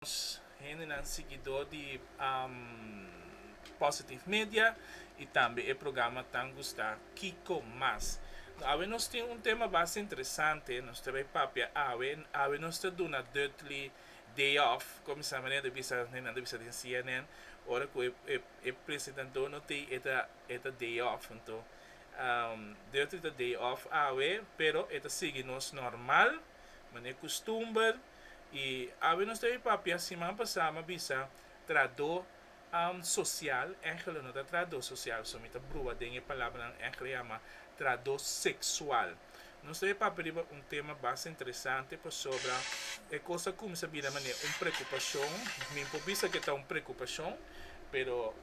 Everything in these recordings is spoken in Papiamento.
Nos hendenan siguidó di Positive Media i tambe e programa Tan Gustá Kiko Mas. No awe nos tin un tema basta interesante nos ta bai papia awe. Awe nos ta duna Dutely day off, kuminsá manera ta bisa nan ta bisa den cnn ora ku e presentadó no ta ei e ta day off. Anto Dutely ta day off awe pero e ta sigui nos normal manera kustumber. Y awe nos ta bai papia, siman pasá m'a bisa tradó social, Angelo no ta tradó social, so mi ta brua den e palabranan Angelo a yama tradó sexual. Nos ta bai papia riba un tema basta interesante pasobra e cos ta cuminsa bira manera un preocupacion, mi por bisa cu e ta un preocupacion, pero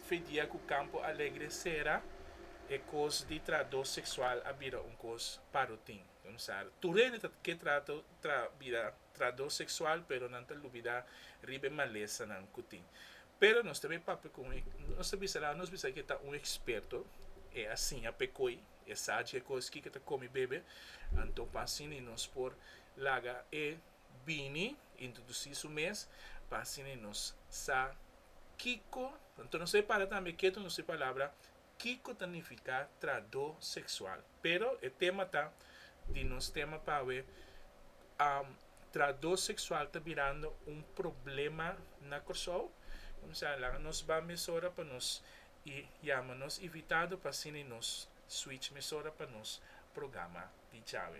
fe dia cu Campo Alegre cera e cos di tradó sexual a bira un cos pa rutin. Don Sar, Tur hende ta ke trato tra bira trador sexual pero nan ta lubida riba e malesanan ku tin. Pero nos ta be papia ku un nos ta bisa nan nos bisa ke ta un eksperto e a siña p'e koi e sa djekos kiko ta komi bebe anto pasini nos por laga e bini introdusí su mes pasini nos sa kiko anto nos ta be para tambe ketu nos e palabra kiko ta nifiká tradó seksual. Pero e tema ta di nos tema pa awe, Tradó seksual ta birando un problema na Kòrsou? Kumsa, laga nos ba mesora pa nos i yama nos invitado pa asina nos switch mesora pa nos programa di djawe.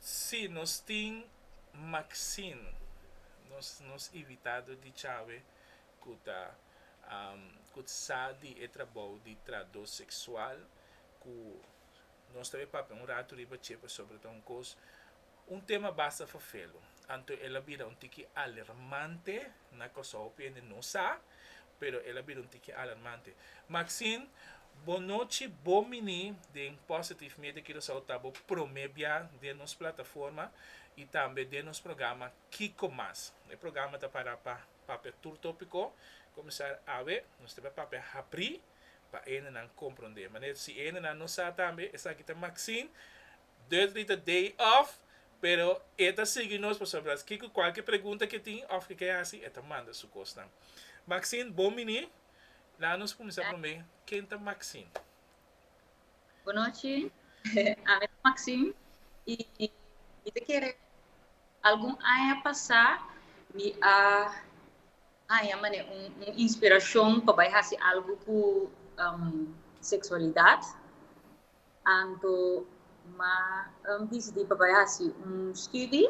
Si, nos tin maxin nos nos invitado di chawe cu ta cut sa di e trabou di trado sexual cu nos ta be papia un rato riba che pasobra ta un cos Un tema basta fafelu, anto el a bira un tiki alermante na Kòrsou p'e hende no sa, pero el a bira un tiki alermante. Maxine, Bo nochi, bo mini den Positive Media Curaçao ta bo promé bia den nos plataforma i tambe den nos programa Kiko Mas. E programa ta para pa papia tur tópiko, kuminsar awe nos ta bai papia hapri pa e hendenan komprondé. Manera si e hendenan no sa tambe esaki ta Maxine, Dutch di ta day off pero e ta sigui nos pasobra kiko cualkier pregunta ke tin of ke ke hasi e ta manda su cosnan. Maxine bon bini, laat nos cuminsa prome ken ta Maxine? Bon nochi, ami ta Maxine y mi ta kere algun aña pasa mi a haña mane un inspiracion pa bay hasi algo cu sexualidad Anto ma um disidi pa bai hasi un studi,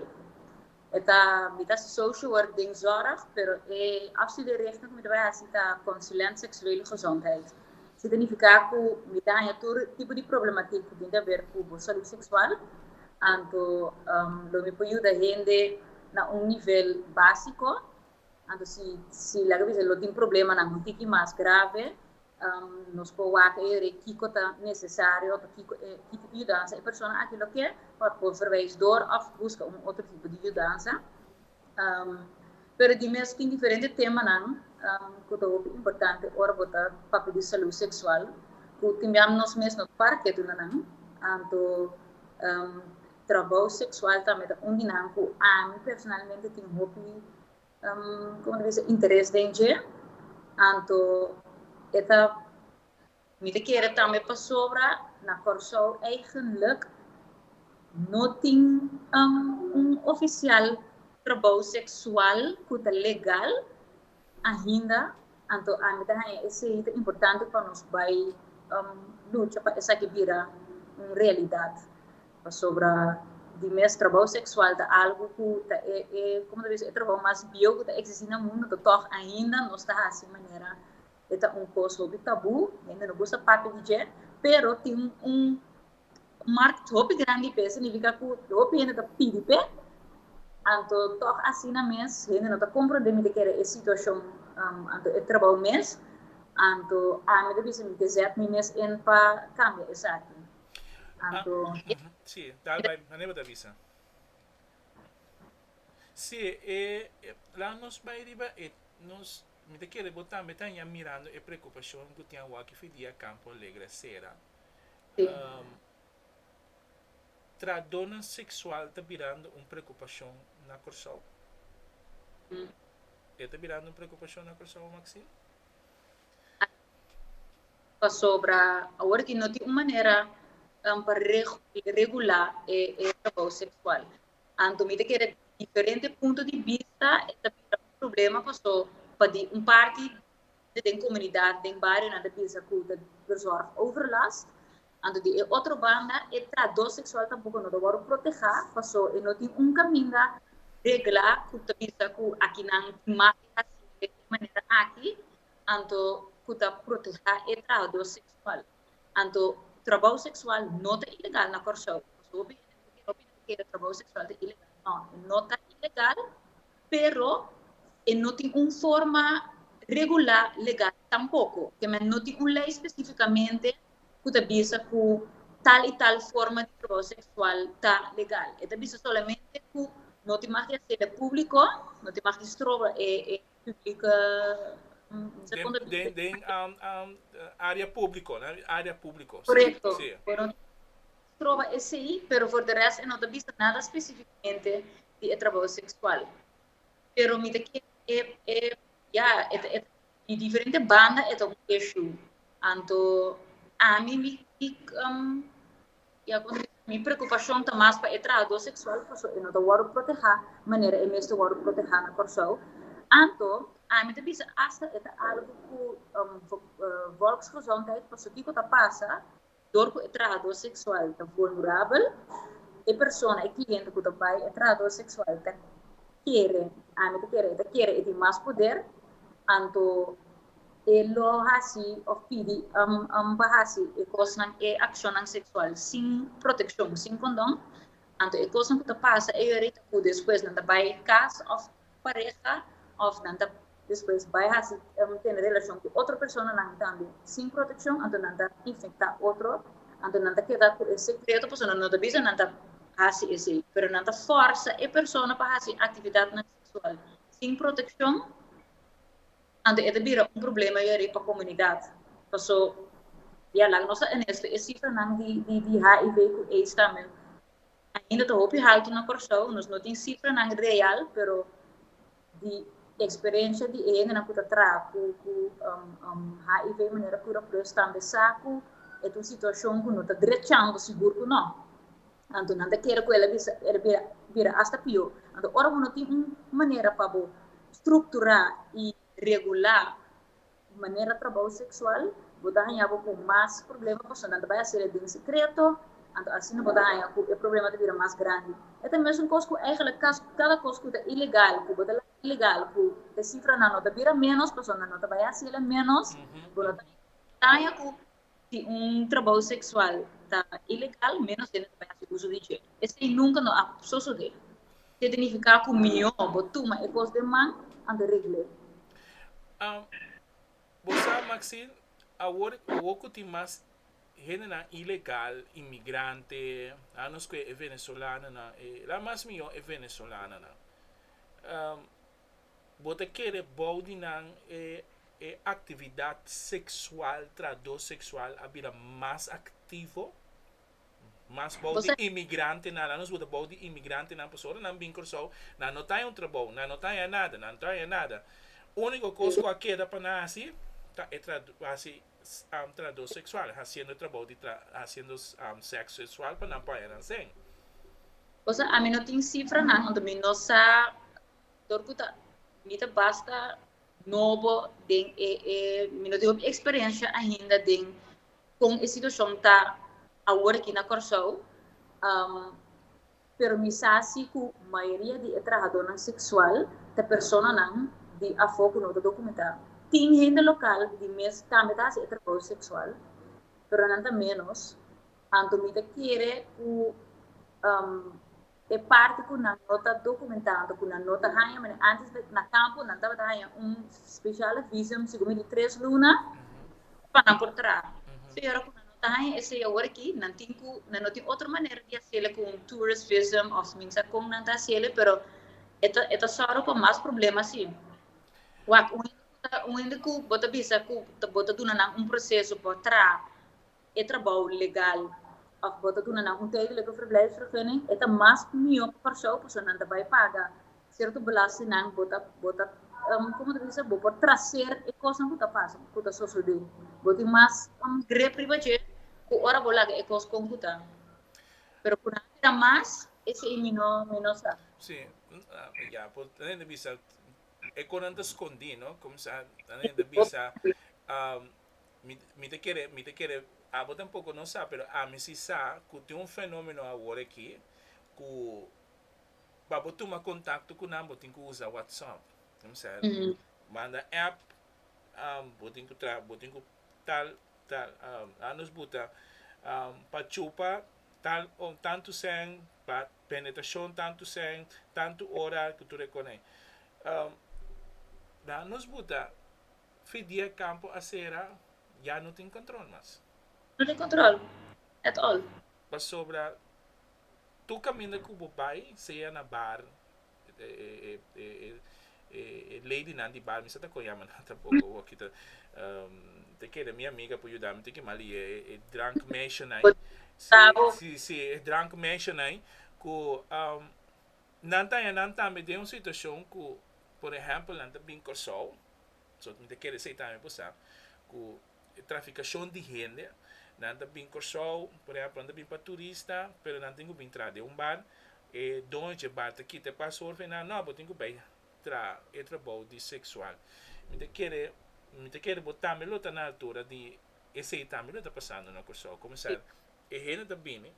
e ta mita hasi social work den zorg, pero e afstude richting ku mi ta bai hasi ta konsulent seksueel i gezondheid. Su ta nifiká ku mi ta haña tur tipo di problematik ku tin ta ber ku bo salud seksual, anto um lo mi por yuda hende na un nivel básiko. Anto si si laga bisa lo tin problemanan un tiki mas grave, nos por wak e yere kiko ta nesesario òf kiko e tipo di yudansa e persona aki lo ke pa por verwijs dor òf buska un otro tipo di yudansa. Pero di mes tin diferente temanan ku ta hopi importante ora bo ta papia di salú seksual ku timbian nos mes no parke tunanan. Anto Trabou seksual tambe ta un di nan ku ami personalmente tin hopi, komo ta bisa, interes den dje. Anto e ta. Mi ta kere tambe pasobra na Kòrsou eigenlik no tin un ofisial trabou seksual ku ta legal Ainda, anto ami ta haña esei, ta importante pa nos bai lucha pa esaki bira un realidat. Pasobra di mes trabou seksual ta algu ku ta e, e, komo ta bisto? E trabou mas bieu ku ta eksistí na mundu, anto tòg ainda nos ta hasi manera e ta un kos hopi tabú, hende no gusta papia di dje, pero tin un. Un mark hopi grandi p'e signifika ku hopi hende ta pidi p'e. Anto tòg asina mes hende no ta komprondé mi ta kere e situashon, anto e trabou mes. Anto ami ta bisa mi ke zèt mi mes in pa kambia esaki. Anto Sí, tal bai mane bo ta bisa. Sí, e laat nos bai riba e nos mi ta kere bo tambe ta aña mirando e preokupashon ku tin awor ki Fidia Campo Alegre a sera. Tradonan seksual ta birando un prekupashon na Kòrsou? E ta birando un prekupashon na Kòrsou, Maxine? Pasobra awor aki no tin un manera pa regulá e trabou seksual. Anto mi ta kere diferente punto di bista e ta bira un problema paso pa di un parti den comunidad, den barionan ta bisa cu ta bezorg overlast. Anto di e otro banda e trahdo sexual tampoco no ta worde proteha, paso e no tin un caminda regla cu ta bisa cu aki nan tin mas di haci den e manera aki, anto cu ta proteha e trahador sexual. Anto trabou sexual no ta ilegal na Corcou. Paso hopi gente ta kere, hopi no ta kere trabou sexual ta ilegal. No, e no ta ilegal. Pero e no tin un forma regulá legal tampoko. Kemey no tin un lei spesífikamente ku ta bisa ku tal i tal forma di trabou seksual ta legal. E ta bisa solamente ku no tin mag di hasélo públiko, no tin mag di stroba e públika, mester konta di. Den área públiko, den área públiko. Korekto. Stroba esei, pero for de rest e no ta bisa nada spesífikamente di e trabou seksual. Pero mi ta kere e, e, ya, e ta, e ta, di diferente banda e ta un eshu. Anto, ami mi, mi, um, ya, kon ta bisa, mi preokupashon ta mas pa e trahadó seksual pasobra e no ta wòrdu protehá manera e mester wòrdu protehá na Kòrsou. Anto, ami ta bisa asta e ta algu ku, um, Volksgezondheid, pasakiko ta pasa? dor ku e trahador seksual ta vulnerabel, e persona, e kliente ku ta bai e trahador seksual ta kere, ami ta kere, e ta kere e tin mas poder, anto e lo hasi òf pidi am pa hasi e kosnan, e akshonnan seksual sin protekshon, sin kondon, anto e kosnan ku ta pasa e yora ei ta ku despues nan ta bai kas òf pareha of nan ta despues bai hasi tene relacion cu otro personanan tambe sin proteccion anto nan ta infecta otro anto nan ta keda cu e secreto pasobra nan no ta bisa nan ta hasi esey pero nan ta forsa e persona pa hasi actividadnan sexual sin proteccion anto e ta bira un problema yari pa comunidad paso ya laga nos ta honesto e cifranan di hiv cu aids tambe Ainda ta hopi haltu na Kòrsou, nos no tin sifranan real, pero di eksperensia di e hendenan ku ta traha ku ku HIV manera kura plus tambe sa ku e ta un situashon ku no ta drechando sigur ku no. Anto nan ta kere ku el a bisa el a bira bira asta pió. Anto ora bo no tin un manera pa bo strukturá i regulá di manera trabou seksual, bo ta haña bo ku mas problema pasobra nan ta bai hasi el den sekreto, anto asina bo ta haña ku e problema ta bira mas grandi. E ta mesun kos ku eigenlik kas kada kos ku ta ilegal, ku bo ta laga ilegal, ku e sifranan no ta bira ménos pasobra nan no ta bai hasi el menos, bo no ta haña ku. Si un trabou seksual ta ilegal, ménos hende ta bai hasi uso di dje. Esei nunka no a sosodé. Ke ta nifiká ku mihó bo tuma e kos den man anto regl'é. Bo sa, Maxine, awor awor ku tin mas hendenan ilegal, inmigrante, a nos ku e venezolanonan, e la mas mihó e venezolanonan. Bo ta kere bou di nan e e aktividat seksual tradó seksual a bira mas aktivo? Mas bou di imigrantenan, lanos bo ta bou di imigrantenan pasobra ora nan bin Kòrsou nan no ta yon trabou, nan no ta haya nada, nan no ta haya nada. Úniko kos ku a keda pa nan hasi ta e trad hasi trahador sexual haciendo trabao di haciendo sexo sexual pa nan poner nan sen. Cosa ami no tin cifranan unda mi no sa dor cu ta mi ta basta nobo den e e mi no tin hopi experiencia ainda den con e situacion ta awor aki na Corsou Pero mi sa si cu mayoria di e trahadornan sexual ta personanan di afo cu no ta documenta. Tin hende local di mes tambe ta haci e trabou sexual, pero nan ta menos. Anto mi ta kere cu e parti cu nan no ta documenta anto, cu nan no ta haya, antes na campo nan tabata haya un speciale visum, sico mi di tres luna, pa nan por traha. So y ora cu nan no ta haya e seyador aki, nan tin cu, nan no tin otro manera di haciele cu un tourist visum of min sa con nan ta haciele, pero e ta, e ta zorgo pa mas problema así. Wak, un hende cu ta, un hende cu bo ta bisa cu bo ta duna nan un proceso pa traha e trabao legal of bo ta duna nan un tijdelijke verblijfsvergunning, e ta mas mihor pa Curaçao pasobra nan ta bay paga Cierto belastenan bo ta bo ta um, como ta bisa, bo por traser e cosnan cu ta pasa, cu ta sosode. Bo tin mas um, grip riba dje cu ora bo laga e cos con cu ta. Pero cu nan a bira mas, esei mi no, mi no sa. Sí, ya, por nan ta bisa e cosnan ta scondí, no? Como sa, nan ta bisa, um, mi, mi ta kere, mi ta kere, abo tampoco no sa, pero ami si sa cu tin un fenomeno awor aki cu pa bo tuma kontakto ku nan bo tin ku usa WhatsApp, kmsa el manda app um bo tin ku traha bo tin ku tal tal um a nos buta um pa chupa tal um tantu sèn pa penetrashon tantu sèn tantu ora ku tur e kòne um na a nos buta fi dia e kampo a sera ya no tin kòntròl mas. No tin kòntròl at all. Pasobra Tur caminda cu bo bay, sea na bar, e lady nan di bar, mi sa ta con yama nan tampoco, bo a kita, te kere mi amiga por yudami tin ki mal y e drank meisjenay, si, si, si, e drank meisjenay cu nan ta haya nan tambe den un situacion cu, por ehempel, nan ta bin Corsou, so mi ta kere esey tambe por sa cu. e traficacion di hende, nan ta bin Corsou por ehemplo nan ta bin pa turista pero nan tin cu bin traha den un bar, e doño dje bar ta kita e paspoort pa e nan no bo tin cu bay traha e trabao di sexual mi ta kere mi ta kere bo tambe lo ta na altura di esey tambe lo ta pasando na Corsou como sa e hende ta bini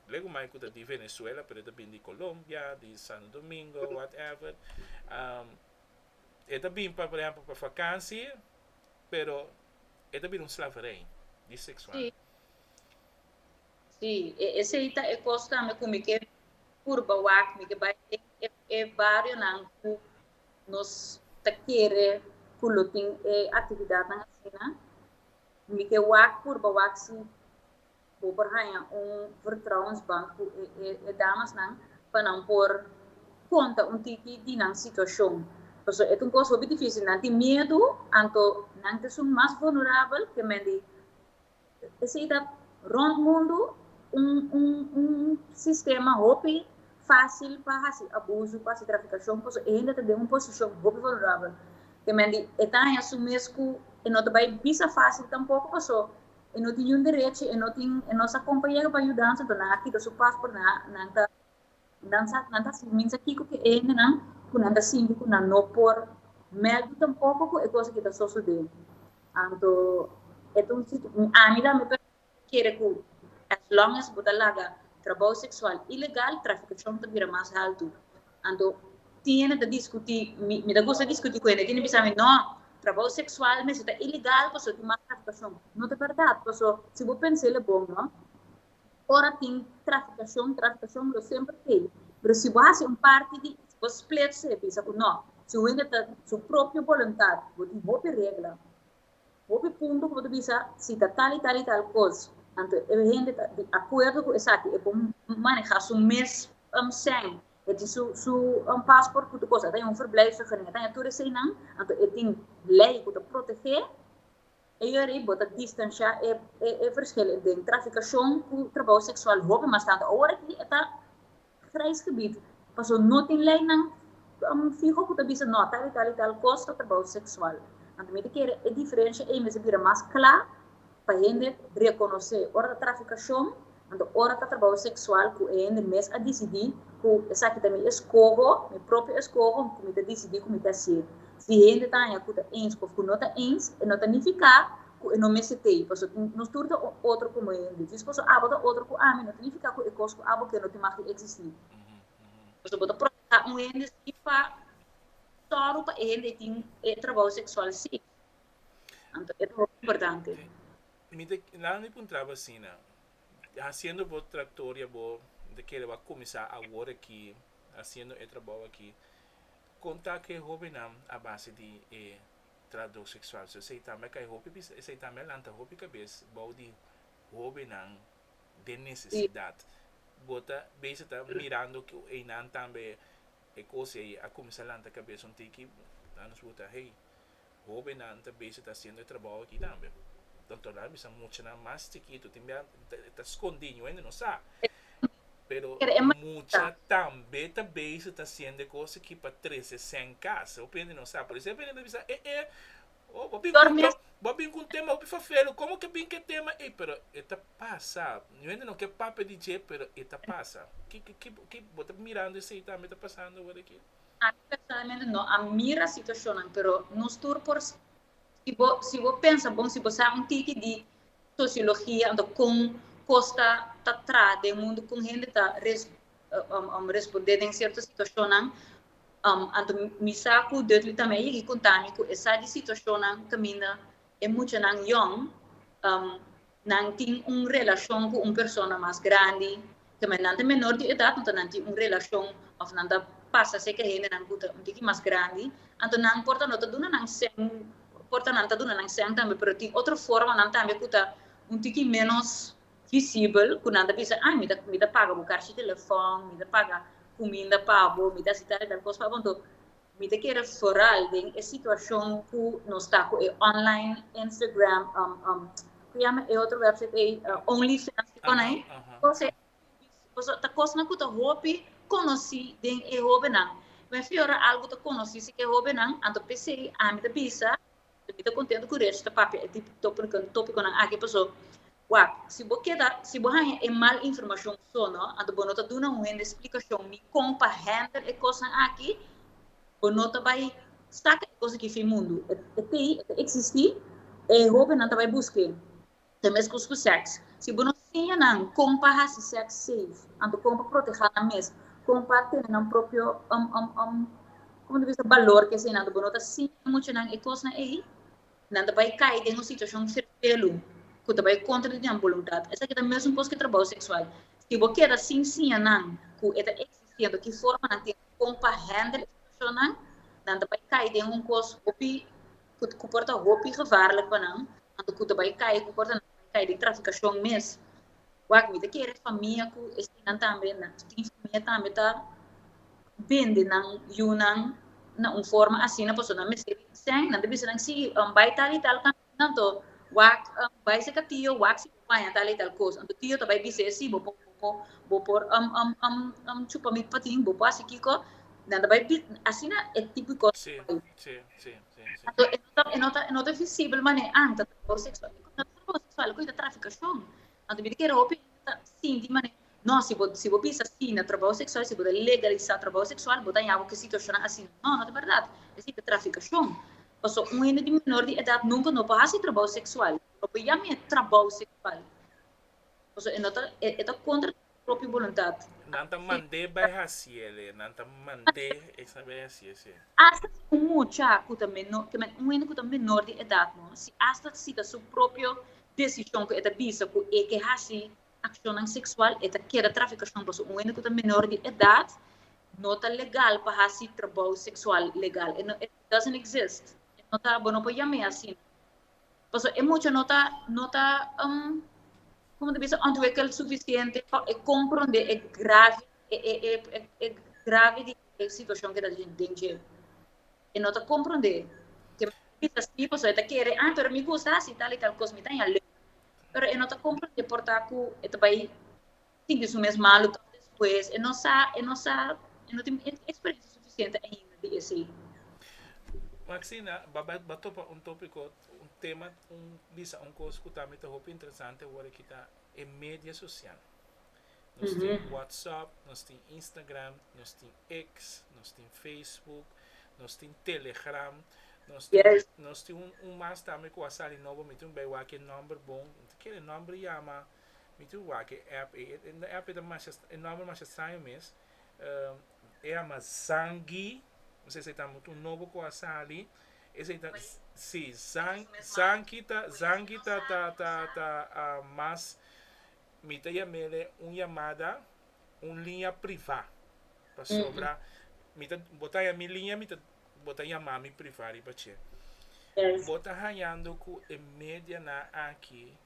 lego mai cu ta di Venezuela pero e ta bini di Colombia di Santo Domingo whatever e ta bin pa por ehemplo pa vakantie. pero e ta bira un slaverij biseksual. Sí, e esei ta e kos tambe ku mi ke purba wak, mi ke bai den e barionan ku nos ta kere ku lo tin e aktividatnan asina, mi ke wak purba wak si Bo por haña un vertrouwensbank ku e damasnan pa nan por konta un tiki di nan situashon. Pasobra e ta un kos hopi difísil. Nan tin miedu, anto nan ta esun mas vulnerabel ke men di. Esei ta rònt mundu un sistema hopi fásil pa hasi abuso, pa hasi trafikashon, pasobra e hende ta den un posishon hopi vulnerabel ke men di e ta haña su mes ku e no ta bai bisa fásil tampoko pasobra E no tin niun derechi, e no tin, e no sa compañero pa yudan, so ta nan a kita su passport, nan a, nan ta, nan sa, nan ta hasi minsa kiko ku e hendenan ku nan ta sinti ku nan no por meldu tampoko ku e kos aki ta sosodé. Anto e ta un situ, ami ta mi perspektiva kere ku as long as bo ta laga trabou seksual ilegal, trafikashon ta bira mas haltu. Anto Tiene ta diskutí, mi mi ta gusta diskutí ku hende. Tiene bisa mi, no, trabou seksual mester ta ilegal pasobra tin mas trafikashon. No ta bèrdat, paso si bo pensa el a bon no, ora tin trafikashon, trafikashon lo semper kei. Pero si bo hasi un parti di, si bo spleet su e bisa ku no, si un hende ta su propio boluntat, bo tin hopi regla, Hopi punto ku bo ta bisa si ta tal i tal i tal kos, anto e hende ta di akuerdo ku esaki, e por manehá su mes sèn, e tin su pasport ku tur kos, a ta yon verblijfsvergunning, a ta yon tur esei nan, anto e tin lei ku ta protegé e yòri, bo ta distansha e verskil den trafikashon ku trabou seksual hopi mas tantu. Awor aki e ta. vrijsgebied paso no tin leinan fiho ku ta bisa no tal i tal i tal kos ta trabou seksual. Anto mi ta kere e diferensha ei mester bira mas kla pa hende rekonosé ora ta trafikashon anto ora ta trabou seksual ku e hende mes a disidí ku esaki ta mi eskoho, mi propio eskoho ku mi ta disidí ku mi ta hasié. Si hende ta haña ku ta ensku òf ku no ta ens e no ta nifiká ku e no mester tei pasobra tin nos tur ta otro komo e hende djis pasobra abo ta otro ku ami no ta nifiká ku e kos ku abo ke no tin mag di eksistí pasobra bo ta protestá un hende sin pa tòru pa e hende ei tin e trabou seksual si anto e ta hopi importante. Mi ta nan mi puntraba asina hasiendo bo traktoria bo ta kere bo a kuminsá awor aki hasiendo e trabou aki kon ta ku e hóbennan a base di e trabdor sexual so esei tambe a kai hopi bisa esei tambe a lanta hopi cabes bao di hobennan den necesidad bo ta beza ta mirando cu einan tambe e cos ei a cuminsa lanta cabes un tiki ta nos pregunta hey hobennan ta beza ta haciendo e trabao aki tambe ta torna a bisa muchanan mas chikito tin bia ta scondi ngue nos sa. Pero mucha tambe ta bezig ta siende cos aki pa trece cen cas. Bo pende no sa. Por eso e bini ta bisa eh eh oh bo bin cu un bo bin cu un tema hopi fafelu como ke bin ke tema ey pero e ta pasa. Mi mente no ke papia di dje pero e ta pasa. Ki ki ki bo ta mirando esey tambe ta pasando awor aki? Ami personalmente no a mira situacionnan pero nos tur por Si bo si bo pensa bon si bo sa un tiki di sosiologia anto kon kos ta ta tra den mundu kon hende ta res responde den sierto situashonnan anto mi sa ku Dudley tambe a yegi konta mi ku e sa di situashonnan kaminda e muchanan yòn. Nan tin un relacion cu un persona mas grandi, tambe nan ta menor di edad, anto nan tin un relacion of nan ta pasa seca hendenan cu ta un tiki mas grandi, anto nan por ta no ta duna nan sehn, por ta nan ta duna nan sehn tambe, pero tin otro formanan tambe cu ta un tiki menos visibel, cu nan ta bisa, ay, mi ta, mi ta paga bo karchi telefon, mi ta paga cuminda pa bo, mi ta haci tal y tal cos pa bo, anto Mi ta kere foral den e situacion cu nos ta cu e online Instagram, cu yama e otro website ey, Only Fans cu con ey, entonces pasobra ta cosnan cu ta hopi conoci den e hobennan. Mi a fia ora algo ta conoci si e hobennan, anto pesey ami ta bisa, mi ta contento cu Reg ta papia e topiconan aki pasobra Wak, si bo keda, si bo haña e mal informashon so no, anto bo no ta duna un hende splikashon ni kon pa hèndel e kosnan aki, bo no ta bai saka e kos aki fin mundu. E ta ei, e ta eksistí, e hóbennan ta bai buska e. Ta meskos ku sèks. Si bo no siña nan kon pa hasi sèks seif, anto kon pa protehá nan mes, kon pa tene nan propio un un un, komo ta bisa, balor, ke eseinan, anto bo no ta siña e muchanan e kosnan ei, nan ta bai kai den un situashon serpelu ku ta bai kontra di nan boluntat. Esaki ta mesun kos ku trabou seksual. Si bo keda sin siña nan ku e ta eksistí, anto ki forma nan tin di kon pa hèndel e situashonnan? Nan ta bai kai den un kos hopi ku por ta hopi gevaarlik pa nan, anto ku ta bai kai ku por ta bai kai di trafikashon mes. Wak, mi ta kere e famia ku e sinan tambe na tin famia tambe ta bende nan yunan na un forma asina pasobra nan mester bin sèn, nan ta bisa nan si an bai tal i tal kaminda anto wak an bai seka tio wak si bo paña tal i tal kos anto tio ta bai bis'é si bo por bo por chupa mi patin bo por hasi kiko nan ta bai asina e tipo di kos ta bai anto e no ta e no ta visibel manera anto. homosexual cu e ta traficacion. Anto mi ta kere hopi hende ta sinti manera no si bo si bo bisa si na trabao sexual si bo ta legalisa trabao sexual bo ta haña bo cu e situacionnan asina. No no ta berdad esei ta traficacion. Pasobra un hende di menor di edad nunca no por haci trabao sexual. No por yama e trabao sexual pasobra e no ta e ta contra. propio boluntat. Nan ta mand'é bai hasi el e, nan ta mand'é esnan bai hasi esé. Asta si un mucha ku ta menor, ta men un hende ku ta menor di edat no, si asta si ta su propio desishon ku e ta bisa ku e ke hasi akshonnan seksual, e ta keda trafikashon pasobra un hende ku ta menor di edat no ta legal pa hasi trabou seksual legal. E no, it doesn't exist. E no ta, bo no por yam'é asina. pasobra e mucha no ta no ta como ta bisa ontwikkeld suficiente pa e comprende e grave e grave di e situacion ke ta den dje e no ta comprende ke mi ta bisa si pasobra e ta kere ah pero mi gusta hasi tal y tal cos mi ta haña leu pero e no ta comprende por ta ku e ta bai sinti su mes malu tòg despues e no sa, e no sa, e no tin eksperensia sufisiente ainda di esei. Maxina, b'a topa un tópiko, un tema, un bisa un kos ku tambe ta hopi interesante awor aki ta e media sosial. Nos tin WhatsApp, nos tin Instagram, nos tin X, nos tin Facebook, nos tin Telegram, nos tin nos tin un mas tambe ku a sali nobo, mi tin bai wak e nòmber bon, mi ta kere nòmber yama. Mi tur wak e app ei. E app ei ta masha, e nomber masha straño mes. E ama Zangi. Mi sa esei ta mutu un nobo ku a sali. Esei ta, si, Zanki ta, Zanki ta, ta, ta, ta mas, mi ta yam'e un yamada, un liña privá. Pasobra mi ta, bo ta haña mi liña, mi ta, bo ta yama mi privá riba dje. Bo ta hañando ku e medianan aki.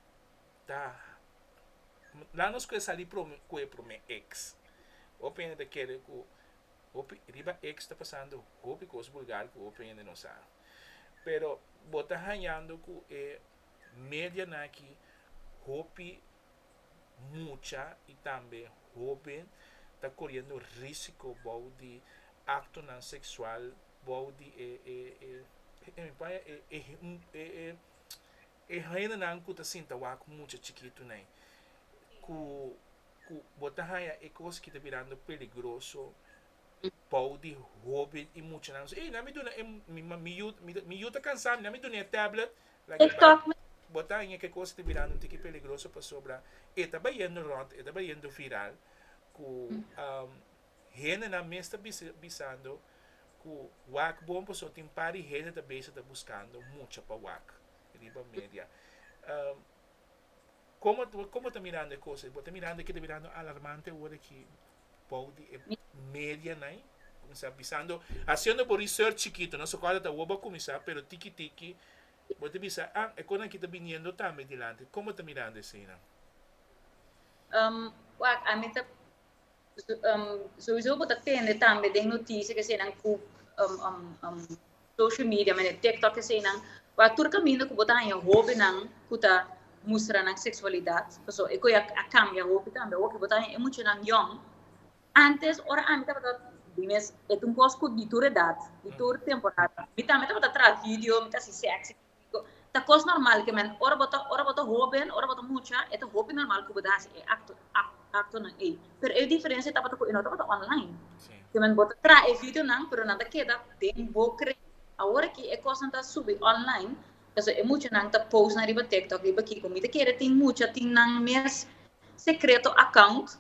ta la nos cu e sali cu e prome ex hopi hende ta kere cu hopi riba ex ta pasando hopi cos bulgar cu hopi hende no sa pero bo ta hañando cu e media nan aki hopi mucha y tambe hoben ta coriendo risico bou di actonan sexual bou di e e e mi paña e e E haenanan ku ta sinta wak ku mucha chikitunai, ku ku bo ta haña e kos ki ta birando peligroso bou di hoben i muchanan so, ey nan mi duna e mi yu mi yu ta kansá mi nan mi duna e tablet like e bai bo ta haña ke kos ta birando un tiki peligroso pasobra e ta bayendo rònt e ta bayendo viral ku. Hendenan mes ta bisando cu wak bon pasobra tin par di hende ta bezig ta buscando mucha pa wak riba media. Como, como ta mirando e cosa? Bo ta mirando e ki ta birando alarmante awor aki bou di e medianai? Cuminsa bisando, haciendo bo research chikito, no? Sokora ta awor bo a cuminsa, pero tiki tiki bo ta bisa, ah, e conan aki ta biniendo tambe dilanti. Como ta mirando eseinan? Um, wak, ami ta. Souso bo ta tende tambe den noticia ke eseinan ku social media mende tiktok eseinan ku a tur kaminda ku bo ta haña hobennan ku ta mustra nan seksualidat paso e koi a kambia hopi tambe awo ke bo ta haña e muchanan yòn antes ora ami tabata di mes e ta un kos ku di tur edat di tur temporada mi tambe tabata traha video mi ta hasi sèksi Diko, ta kos normal ke men ora bo ta ora bo ta hoben, ora bo ta mucha, e ta hopi normal ku bo ta hasi e akto ak aktonan ei. Pero e diferensia tabata ku e no tabata online. Sí. Ke men bo ta traha e videonan, pero nan ta keda den bo kren. Awor aki e kosnan ta subi online, pasobra e muchanan ta post nan riba TikTok, riba kiko. Mi ta kere tin mucha, tin nan mes sekreto account,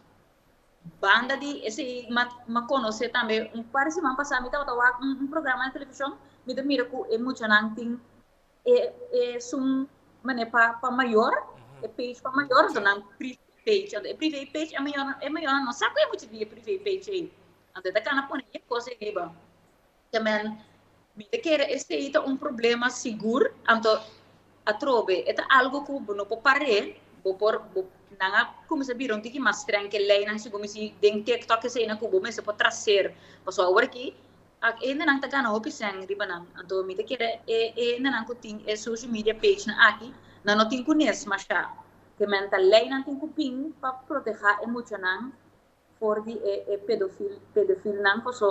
Banda di esei ma ma konosé tambe un par di siman pasá mi tabata wak un un programa den televishon mi ta mira ku e muchanan tin e e su manera pa pa mayor e page pa mayor anto nan privé page anto e privé page e mayornan e mayornan no sa ku e mucha di e privé page ei anto e ta kana pone e kos ei riba. te men mi ta kere esei ta un problema sigur anto atrobe e ta algo ku bo no por par'e bo por bo nan a kuminsá bira un tiki mas strèng ke leinan si bo misti den TikTok esei nan ku bo mester por traser pasobra awor aki a hendenan ta gana hopi sèn riba nan anto mi ta kere e e hendenan ku tin e social media pagenan aki nan no tin kunes mashá te men ta leinan tin ku bin pa protehá e muchanan for di e e pedofil pedofilnan paso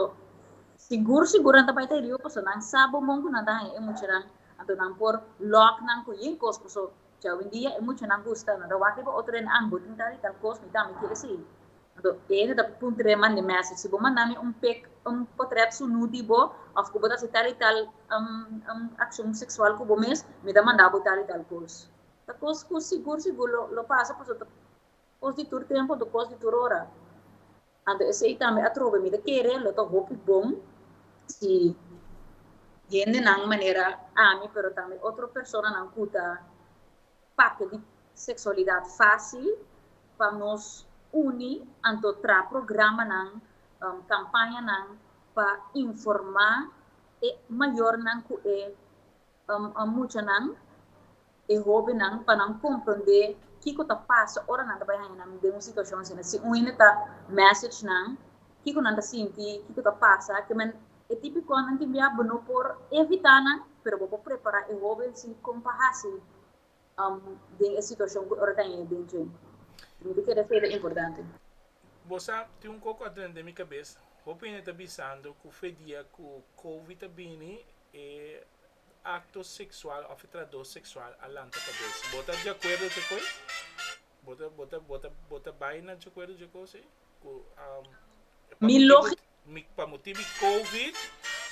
sigur sigur nan ta bai ta heriba paso nan sa bon bon ku nan ta haña e muchanan anto nan por lòk nan ku yin kos paso cha owendia e muchanan gusta nan ta wak riba otro den ambo tin tal i tal kos mi tambe kere esei anto e hende ta puntra e mandi mèsej si bo manda mi un pek un potrèt sunú di bo òf ku bo ta hasi tal i tal akshon seksual ku bo mes mi ta manda bo tal i tal kos ta kos ku sigur sigur lo lo pasa paso ta. Kos di tur tempu nto kos di tur ora. Anto esei tambe a trobe mi ta kere lo ta hopi bon si hendenan manera ami pero tambe otro personanan ku ta papia di seksualidat fásil pa nos uni anto traha programanan kampañanan pa informá e mayornan ku e muchanan. e hóbennan pa nan komprondé kiko ta pasa ora nan ta bai haña nan den un situashon asina. Si un hende ta mèsech nan kiko nan ta sinti, kiko ta pasa, ke men e tipi kos nan tin bia bo no por evitá nan, pero bo por prepará e hóben si kon pa hasi den e situashon ku e ora ta haña den dje. Mi ta keda esei ta importante. Bo sa, tin un koko adren den mi kabes. Hopi hende ta bisando ku f'e dia ku Covid ta bini, e. acto sexual of e tratdo sexual a lanta cabes. Bo ta diacuerdo cu ecoe? Bo ta, bo ta, bo ta, bo ta bay na diacuerdo cu ecoe, si? Cu, um, pa Mi motibo, logi- mi, pa motibo di Covid,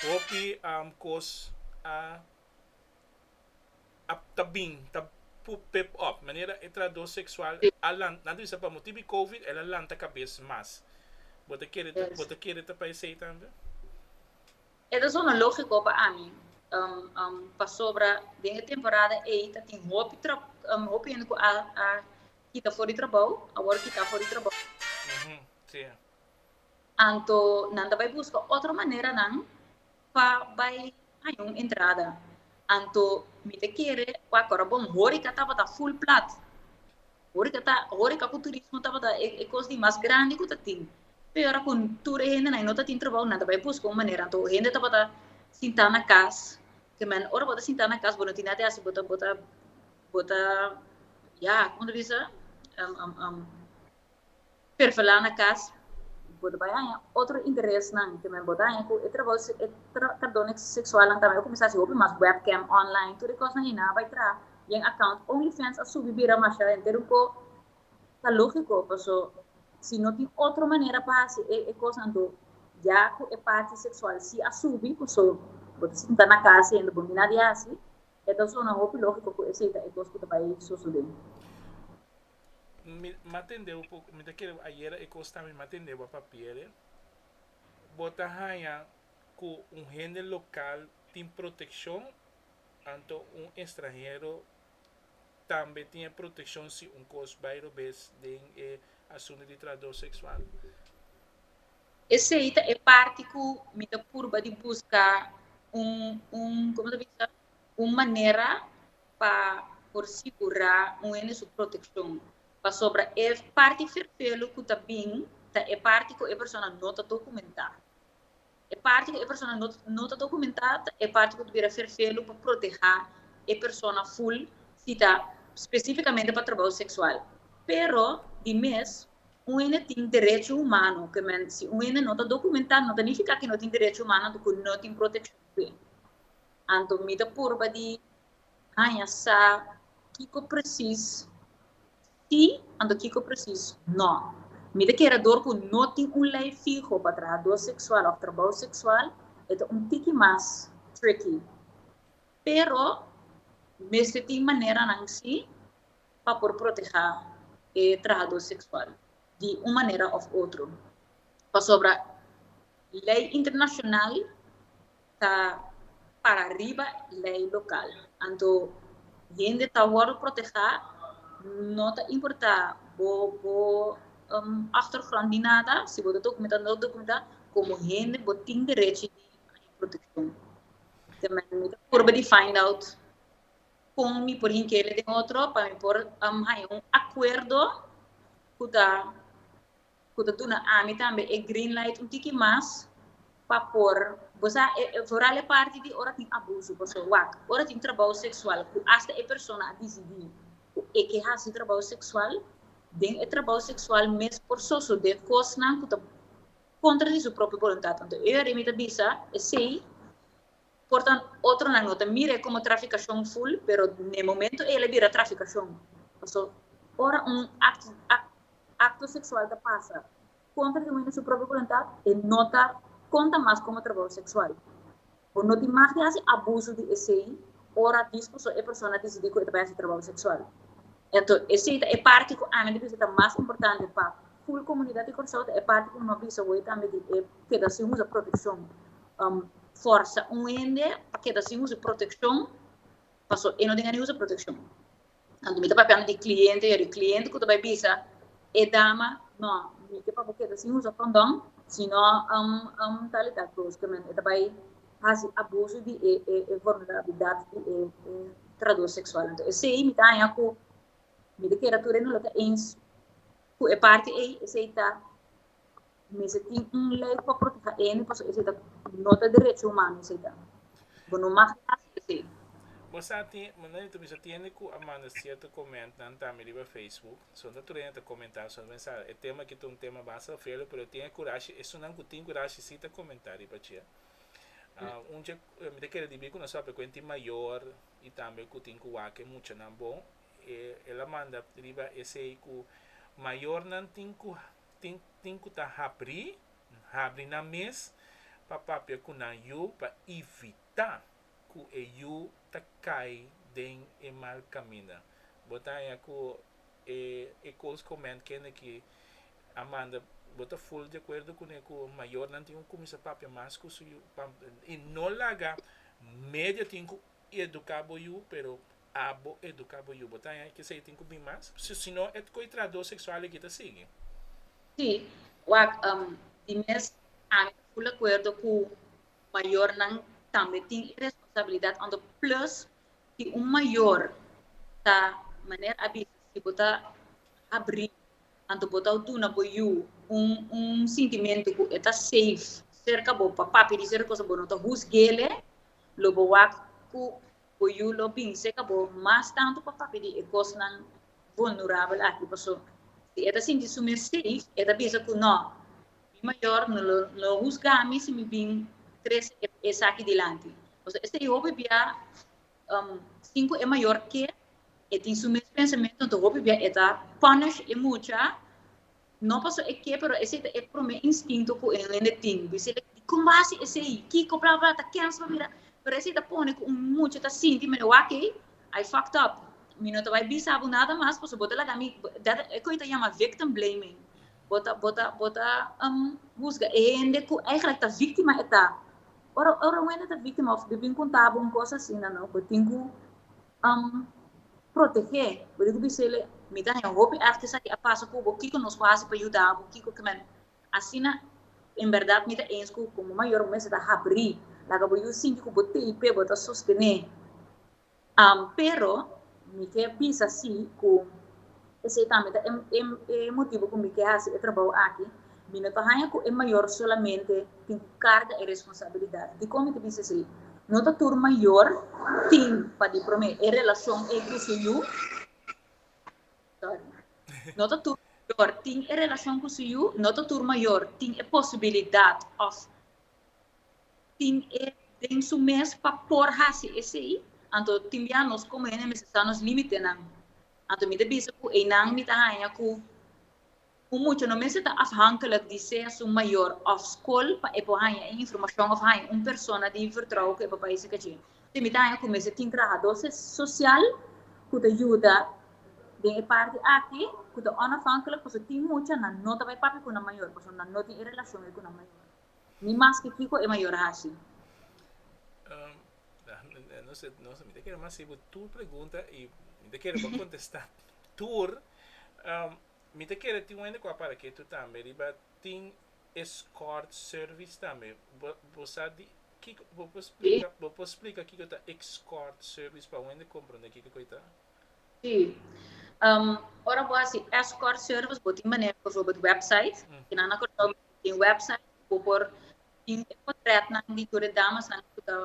hopi, um, cos a, a, ta bin, ta pu, pep op. Manera e tratdo sexual a lan, nan ta bisa pa motibo di Covid el a lanta cabes mas. Bo ta kere ta, bo ta kere ta pa esey tambe? E ta sona lógiko pa ami pasobra den e temporada ei ta tin hopi hende ku a kita for di trabou, awor kita for di trabou. Anto nan ta bai buska otro maneranan pa bai haña un entrada. Anto mi ta kere ku akora bon horika tabata full plat. Horeca ta, horeca cu turismo tabata e, e cos di mas grandi cu ta tin. Pe ora cu tur e hende nai no ta tin trabao, nan ta bai busca un manera. Anto hende tabata sinta na cas, ke men, ora bo ta sinta na cas, bo no tin nada di haci, bo ta, bo ta, bo ta, ya, como ta bisa? Perfilá na kas, bo ta bai haña otro interesnan, te men bo ta haña ku e trabou e tratadónan seksualnan ta bai a kuminsá hasi hopi mas webcam online, tur e kosnan hina a bai traha den akount OnlyFans a subi bira masha henter un po ta lógiko paso si no tin otro manera pa hasi e kosnan anto ya ku e parti seksual si a subi paso bo ta sinta na kas y hende bo mina di hasi e ta zona hopi lógiko ku esei ta e kos ku ta bai sosodé. Mi m'a tende'bo po mi ta kere bo ayera e kosnan mi m'a tende'bo a papiere. Bo ta haña ku un hende lokal tin protekshon anto un estranhero tambe tin e protekshon si un kos bai robes den e asuntu di trahador seksual. Esei ta e parti ku mi ta purba di buska un un komo ta bisa un manera pa por sigurá un hende su protekshon, pasobra e parti ferfelu ku ta bin ta e parti ku e persona no ta dokumentá. E parti ku e persona no no ta dokumentá ta e parti ku ta bira ferfelu pa protehá e persona ful si ta spesifikamente pa trabou seksual. Pero di mes un hende tin derecho humano ku e men si un hende no ta dokumentá no ta nifiká ku e no tin derecho humano anto ku no tin protekshon ku e. Anto mi ta purba di Haña sa kiko presis sí, anto kiko presis no. Mi ta kere dor ku no tin un lei fiho pa trahadó seksual òf trabou seksual, e ta un tiki mas tricky. Pero mester tin maneranan sí pa por protehá e trahadó seksual di un manera òf otro. Pasobra lei internashonal. ta para riba lei lokal. Anto hende ta wòrdu protehá, no ta importá bo bo òchtergrond ni nada, si bo ta dokumentá, no ta dokumentá, komo hende bo tin derechi di haña protekshon. Te mi ta purba di find out kon mi por hinkele den otro pa mi por haña un akuerdo ku ta cu ta duna ami tambe e green light un tiki mas pa por, bo sa e, e vooral e parti di ora tin abuso, pasobra wak, ora tin trabou seksual cu hasta e persona a disidí cu e ke hasi trabou seksual, den e trabou seksual mes por sosode cosnan cu ta contra di su propio boluntat. Anto e yari mi ta bisa esei. por tan otronan no ta mire como traficacion full pero ne momento ey a bira traficacion paso ora un acto sexual ta pasa contra di un hende su propio voluntad e no ta conta mas como trabajo sexual bo no tin mas di haci abuso di esey ora dispuso e persona dicidi cu e ta bay haci trabajo sexual enton esey ta e parti cu ami ta bisa ta mas importante pa full comunidad di Kòrsou ta e parti cu mi a bisa awey tambe di e keda sin usa proteccion. um, forsa un hende pa keda sin usa protekshon, paso e no den ani usa protekshon. Anto mi ta papiando di kliente, ya di kliente ku ta bai bisa, e dama, no, mi ke pa bo keda sin usa kondon, sino um, um, talita bruskemen, e ta bai hasi abuso di e, e, e vulnerabilidad di e, e trador seksual. Anto esei mi ta haña ku mi ta keda tur e no lo ta eens ku e parti ei, esei ta Mester tin un lei pa proteha ene paso esei ta no ta derecho humano esei ta. Bo no mag hasi esei. Bo sa ti manera ta bisa tiende ku a manda sierto komentnan tambe riba Facebook. Son ta trena ta komentá solo men sa e tema aki ta un tema basta felu pero tin e kurashi esunnan ku tin kurashi si ta komentá riba dje. Un dje mi ta kere dibí ku nos papia ku hente mayor i tambe ku tin ku wak e muchanan bon e el a manda riba esei ku mayornan tin ku tin ku ta habrí, N habri nan mes pa papia ku nan yu pa ivitá ku e yu ta kai den e mal kaminda. Bo ta haña ku e Coles Comment kende ki a manda bo ta full di akuerdo kuné ku mayornan tin ku kuminsá papia mas ku su yu i no laga media tin ku eduká bo yu pero abo educa bo yu bo ta hay kisa y tin cu bin mas sino e coy tra do sexual aki ta sigui. Sí, wak um di mes ami ta full acuerdo cu mayornan tambe tin e responsabilidad hondo plus si un mayor ta manera a bisa si bo ta habri anto bo ta duna bo yu un un sintimento cu e ta safe cerca bo pa papia di cierto cosa bo no ta husguele lo bo wak cu Bo yu lo binse ka bo mas tantu pa papia di e kosnan vulnerabel aki paso si e ta sinti su mes safe e ta bisa ku no mi mayor no lo no husga mi si mi bin trese e esaki dilanti paso esei hopi bia um sin ku e mayor ke e tin su mes pensamentu hopi bia e ta punish e mucha. No paso e ke pero esei ta e prome instinto ku un hende tin. Bisele dikon basi esei, kiko bla bla ta kèns pa mira. Pero esei ta pone ku un mucha ta sinti mele wak ei, I fucked up. Mi no ta bai bisa bo nada mas paso bo ta laga mi, dat e kon ta yama victim blaming. Bo ta bo ta bo ta husga e hende ku eigenlik ta víktima e ta. Ora ora un hende ta víktima òf bo bin konta bo un kos asina no bo tin ku um protege bo tin cu bisa el'e mi ta hen hopi artes aki a pasa cu bo kico nos por hasi pa yuda bo kico kico men asina en berdad mi ta ens cu como mayor bo mester ta habri laga bo yu sinti cu bo tey pe bo ta sostene um pero mi ke bisa si cu. Esei tambe ta e motibu con mi'e haci e trabao aki. Mi no ta haña cu e mayor solamente tin cu carga e responsabilidad. Dicon mi ta bisa esei? No ta tur mayor tin pa di prome e relacion ei cu su yu, sorry, no ta tur mayor tin e relacion cu su yu, no ta tur mayor tin e posibilidad of tin e den su mes pa por haci esei. Anto tin bia nos como hende mester sa nos limitenan. Anto mi ta bisa ku einan mi ta haña ku un mucha no mester ta afhankelijk di sea su mayor òf skol pa e por haña e informashon òf haña un persona di vertrouwen ku e papá i su kachí. Entonces mi ta haña ku mester tin trahadó sosial ku ta yuda den e parti aki ku ta onafhankelijk pasobra tin mucha nan no ta bai papia ku nan mayor pasobra nan no tin e relashon ei ku nan mayor ni maske kiko e mayor a hasi. Nos nos mi ta kere mas sibu tur pregunta i mi ta kere bo kontestá tur. Mi ta kere tin un hende ku a para ketu tambe riba tin escort service tambe. Bo bo sa di kiko bo por splika bo por splika kiko ta escort service pa un hende komprondé kiko ku ei ta? Sí. Ora bo hasi escort service bo tin manera, por ejemplo, website. Kinan na Kòrsou tin website ku bo por Tin e potretnan di tur e damasnan ku ta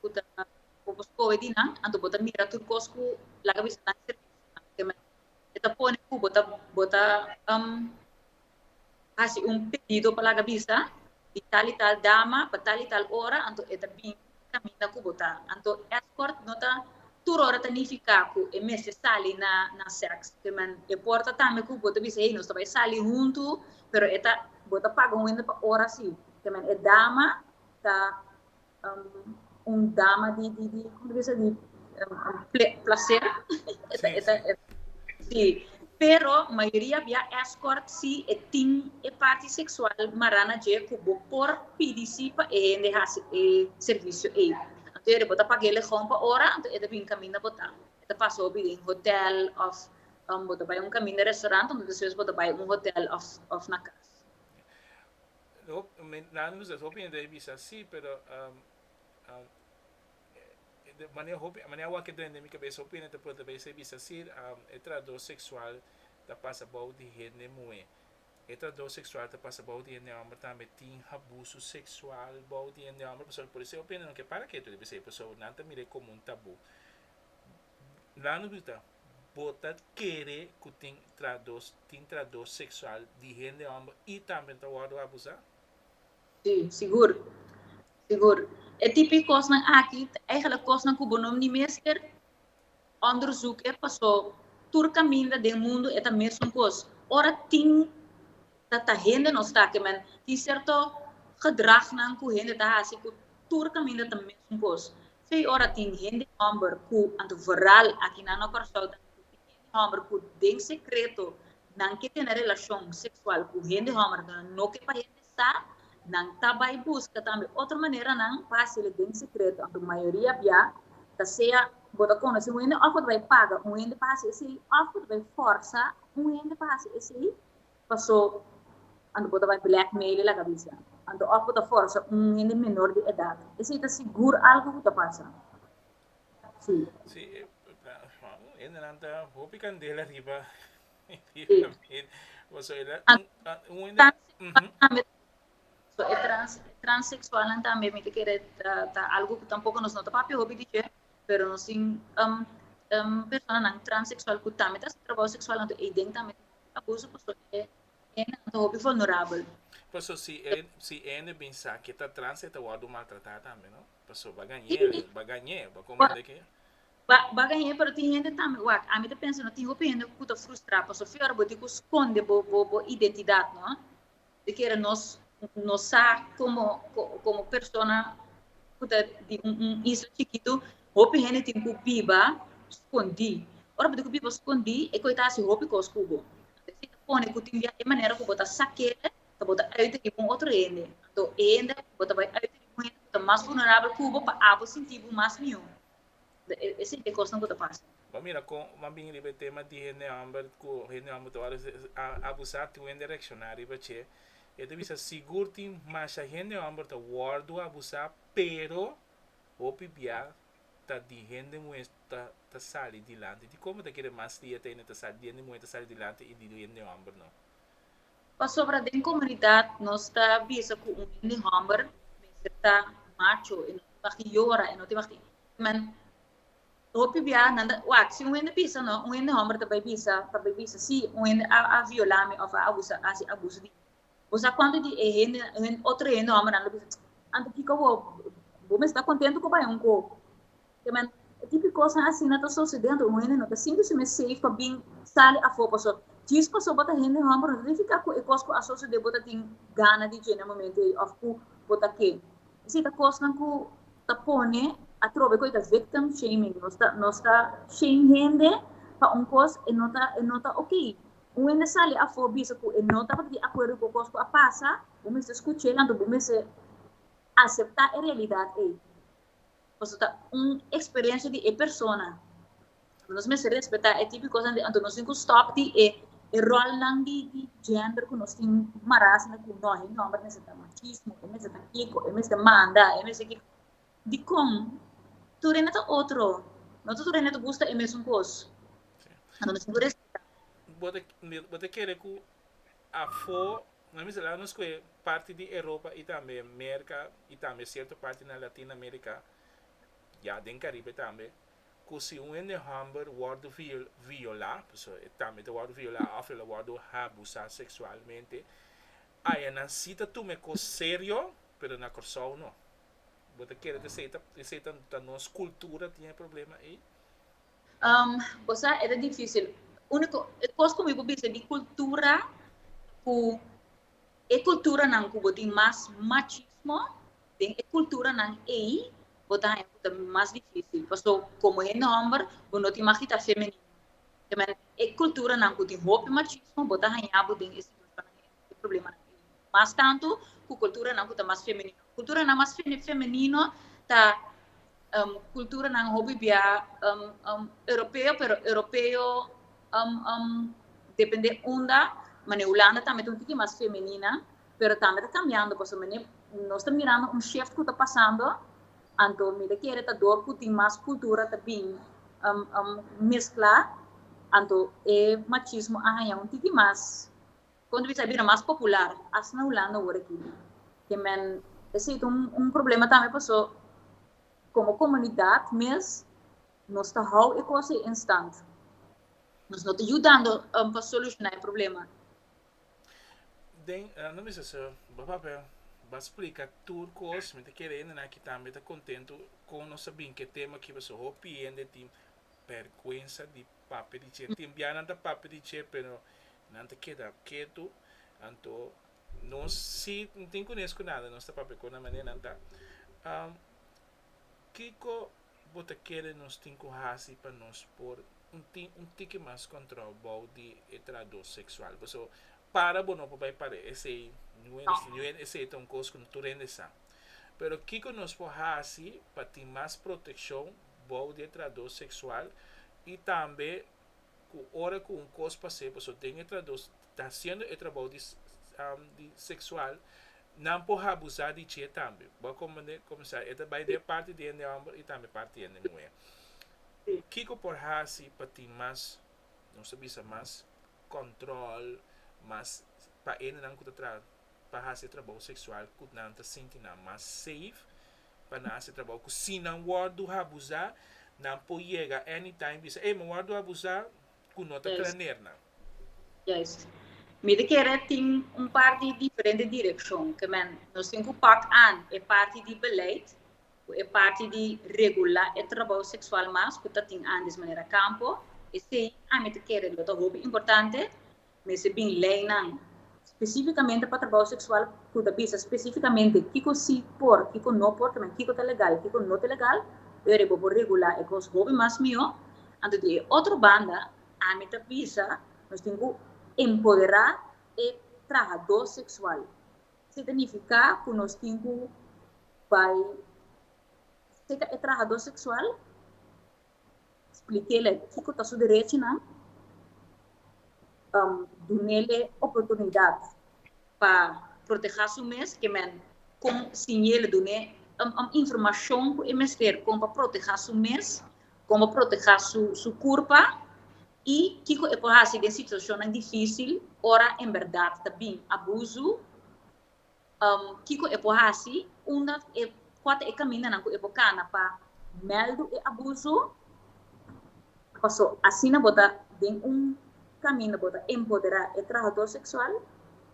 ku ta ku bo skohe di nan, anto bo ta mira tur kos ku laga bisa nan e servisio. E ta pone ku bo ta bo ta hasi un pedido pa laga bisa di tal i tal dama pa tal i tal ora anto e ta bini. e kaminda ku bo ta. Anto escort no ta tur ora ta nifiká ku e mester sali na na sèks. Te men e por ta tambe ku bo ta bisa hey nos ta bai sali huntu pero e ta bo ta paga un hende pa ora si. Te men e dama ta un dama di di di como ta bisa di placer si pero mayoria bia escort si e tin e parti sexual mara na dje cu bo por pidi si pa e hende haci e servicio ey anto ere bo ta pag'e legon pa ora anto e ta bini caminda bota e ta pasa bo bini den hotel of bo ta bai un caminda restaurant anto despues bo ta bai un hotel of na cas. Nan hopi hende a bisa si pero. E mane hopi, e mane awor ke drenta mi kabesa hopi hende ta pregunta pa esei bisa si e trahador seksual ta pasa bou di hende muhé. E trahador seksual ta pasa bou di hende hòmber tambe. Tin habusu seksual bou di hende hòmber pasobra por esei hopi hende no ke para ketu riba esei pasobra nan ta mir'e komo un tabú. Nan lo pregunta, Bo ta kere ku tin trahador, tin trahador seksual di hende hòmber i tambe ta wòrdu abusá? Sí, sigur, sigur. E tipo di kosnan aki ta eigenlik kosnan ku bo no ni mester ònderzoek'e paso tur kaminda den mundu e ta mesun kos. Ora tin ta ta hende no staki men tin serto gedragnan ku hende ta hasi ku tur kaminda ta mesun kos. P'esei ora tin hende hòmber ku anto vooral aki na no Kòrsou tambe tin hende hòmber ku den sekreto nan ke tene relashon seksual ku hende hòmbernan no ke pa hende ta, nan ta bai buska tambe otro maneranan pa hasi'e den sekreto, aunke mayoria bia ta sea bo ta konosé un hende òf bo ta bai paga un hende pa hasi esei òf bo ta bai fòrsa un hende pa hasi esei paso anto bo ta bai blèkmeil'e laga bisa anto òf bo ta fòrsa un hende menor di edat. Esei ta sigur algu ku ta pasa. Sí. Sí, hendenan ta hopi kandela riba So e transexualnan tambe mi ta kere ta algu ku tampoco nos no ta papia hopi di dje, pero nos tin personanan transexual ku tambe ta hasi trabou seksual anto eyden tambe tin hopi abuso paso e hendenan ta hopi vulnerabel. Paso si e si e hende bin sa ke ta trans e ta wòrdu maltratá tambe, no? Paso ba gañ'é, ba gañ'é, ba komprendé ke Baga hende, pero tin hende tambe, wak, ami ta pensa no tin hopi hende ku ta frustrá, paso fior bo di ku skonde bo bo bo identidat no, di kere nos no sa komo komo persona ku ta di un un isla chikitu, hopi hende tin ku biba skondí, ora bo tin ku biba skondí e koi ta hasi hopi kos ku bo, anto esei ta pone ku tin bia e manera ku bo ta sa ke ta bo ta ùit riba un otro hende, anto e hende bo ta bai ùit riba un hende ku ta mas vulnerabel ku bo pa abo sintí bo mas mió. Esei e cosnan cu ta pasa. Bo mira con bo a bini riba e tema di hende homber cu hende homber ta ora a abusa tin wen di reacciona riba ce. E ta bisa sigur tin masha hende homber ta wordo abusa pero hopi bia ta di hende muher ta sali dilanti. Dicombo ta kere mas dia ta hende muher ta sali dilanti y di hende homber no? Pasobra den komunidat nos ta bisa ku un hende hòmber mester ta macho, e no tin bak'i yora, e no tin bak'i men hopi biaha nan ta, wak, si un hende bisa nò, un hende hòmber ta bai bisa, ta bai bisa sí, un hende a a violá mi òf a abusá, a hasi abuso di mi. Bo sa kuantu di e hende, otro hende hòmbernan lo bisa, anto kiko bo bo mester ta kontentu ku bai un ko Amen. E tipo di cosnan asina ta sucediendo. Un hende no ta sinti su mes safe pa bin sali afo. Paso djis paso bo ta hende homber no ta nifica cu e cos cu a sucede bo ta tin gana di dje na momento ey of cu bo ta ke. Esey ta cosnan cu ta pone atrobe cu ey ta victim shaming. Nos ta nos ta shame hende pa un cos e no ta e no ta ok. Un hende sali afo bisa cu e no tabata di acuerdo cu e cos cu a pasa bo mester scuchel anto bo mester acepta e realidad ey. pasobra ta un experiencia di e persona. Nos mester respeta e tipo di cosnan, anto nos tin cu stop di e rolnan di gender cu nos tin mara asina cu no, e homber mester ta machismo, e mester ta kico, e mester manda, e mester kico. Dicon? Tur hende ta otro, no ta tur hende ta gusta e mesun cos. Anto nos tin cu respeta. Bo ta kere cu Afo nan miselar nos cu e parti di Europa y tambe Merca y tambe cierto parti na Latin America, ya den Caribe tambe, cu si un hende homber wordo viola, pasobra e tambe ta wordo viola of el a wordo habusa sexualmente, aya nan si ta tuma e cos serio, pero na Corsou no. Bo ta kere di esey ta nos cultura tin e problema ey? bo sa e ta difisil uniko e kos ku mi por bisa di kultura ku e kulturanan ku bo tin mas machismo den e kulturanan ei bo ta haña ku ta mas difisil paso komo e nòmber bo no tin mas ki ta femenino e kulturanan ku tin hopi machismo bo ta haña bo den e situashonnan ei den e problemanan ei. mas tantu ku kulturanan ku ta mas femenino. Kulturanan mas femenino ta kulturanan hopi bia europeo, pero europeo depende unda, manera Hulanda tambe ta un tiki mas femenina, pero tambe ta kambiando, pasobra mi bai nos ta mirando un shift ku ta pasando, anto mi ta kere ta dor ku tin mas kultura ta bin mesklá, anto e machismo a haña un tiki mas. Konta bisa e bira mas popular as na Hulanda awor aki. Ke men esei ta un problema tambe paso komo komunidat mes nos ta hou e kos ei en stand. Nos no ta yudando pa solushoná e problema. Den ando bisa so bo papel bo splika tur kos mi ta kere hendenan aki tambe ta kontentu kon nos a bin ku e tema aki paso hopi hende tin perkuensa di papia di dje. Tin bia nan ta papia di dje pero nan ta keda ketu, anto nos si no tin kunes ku nada nos ta papia ku nan manera nan ta. Kiko bo ta kere nos tin ku hasi pa nos por tin un tiki mas kòntròl bou di e trado seksual? Paso para bo no por bai pare esei nuet, esei ta un kos ku no tur hende sa. Pero kiko nos por hasi pa tin mas protekshon? bou di e tradó seksual i tambe ku ora ku un kos pas'é paso den e tradó ta hasiendo e trabou di di seksual nan por habusá di dje tambe bo a komprendé komensá e ta bai den parti di hende hòmber i tambe parti di hende muhé kiko por hasi pa tin mas nos ta bisa mas kòntròl mas pa hendenan ku ta traha pa hasi e trabou seksual ku nan ta sinti nan mas safe. pa nan hasi trabou ku si nan wòrdu habusá nan por yega anytime bisa ey mi wòrdu habusá ku no ta traner nan. Juist. Mi ta kere tin un par di diferente direkshon ke men nos tin ku pak an e parti di beleid ku e parti di regulá e trabou seksual mas ku ta tin andes manera kampo esei ami ta kere lo ta hopi importante Mester tin leinan spesífikamente pa trabou seksual ku ta bisa spesífikamente kiko sí por, kiko no por, tambe kiko ta legal, kiko no ta legal, pero bo por regulá e kos hopi mas mihó. Anto di e otro banda, ami ta bisa nos tin ku empoderá e trahadó seksual. Si ta nifiká ku nos tin ku bai seka e trahadó seksual Splikéle kiko ta su derechinan. Um, dunele oportunidat pa protehá su mes, ke men kon siñele, dun'é um, um informashon ku e mester kon pa protehá su mes, kon pa protehá su, su kurpa i kiko e por hasi den situashonnan difísil ora en bèrdat ta bin abuzu. Kiko e por hasi? Unda e, kua ta e kamindanan ku e por kana pa mèldu e abuso? Paso asina bo ta den un kaminda bo ta empoderá e trahadó seksual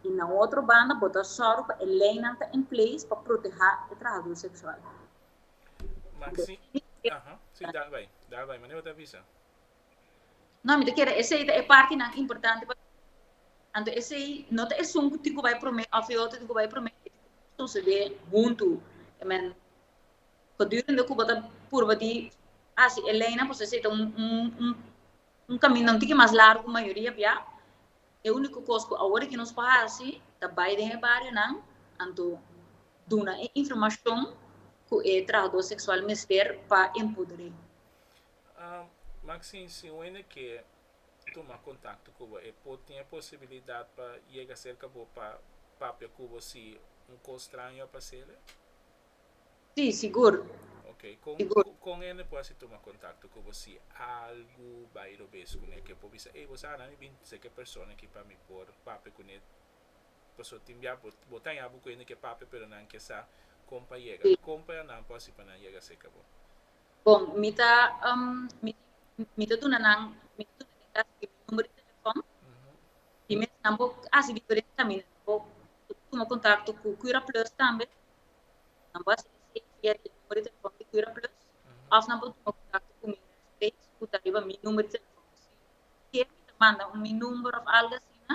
i na otro banda bo ta sòru pa e leinan ta en place pa protehá e trahadó seksual. Maxi, aha, si dal bai, dal bai, mane bo ta bisa? No, mi ta kere esei ta e partinan importante pa mi. Anto esei no ta esun ku tin ku bai promé òf e otro tin ku bai promé. E tin ku sosodé huntu. E men, gedurende ku bo ta purba di hasi e leinan, pasobra esei ta un kaminda un tiki mas largu ku mayoria bia. E úniko kos ku awor aki nos por hasi ta bai den e barionan, anto duna e informashon ku e trahadó seksual mester pa empoder'é. Maxine, si un hende ke tuma kontakto ku bo, e por tin e posibilidat pa yega serka bo pa papia ku bo si un kos straño a pasele? Sí, sigur. Ok. Kon kon hende por hasi tuma kontakto ku bo si algu bai robes kuné? Ke por bisa, Ey, bo sa nan mi bin seke persona aki pa mi por papia kuné? Pasobra tin bia bo bo ta haña bo ku hende ke papia pero nan ke sa kon pa yega. Kon pa nan por hasi pa nan yega serka bo? Bon, mi ta mi ta duna nan mi ta duna den kas mi numero di telefòn i mes nan por hasi diferente kaminda nan por tuma kontakto ku Cura Plus tambe nan por hasi esei via e numero di telefòn di Cura Plus òf nan por tuma kontakto ku mi rèsbreis ku ta riba mi numero di telefòn si kier mi ta manda mi number òf algu asina.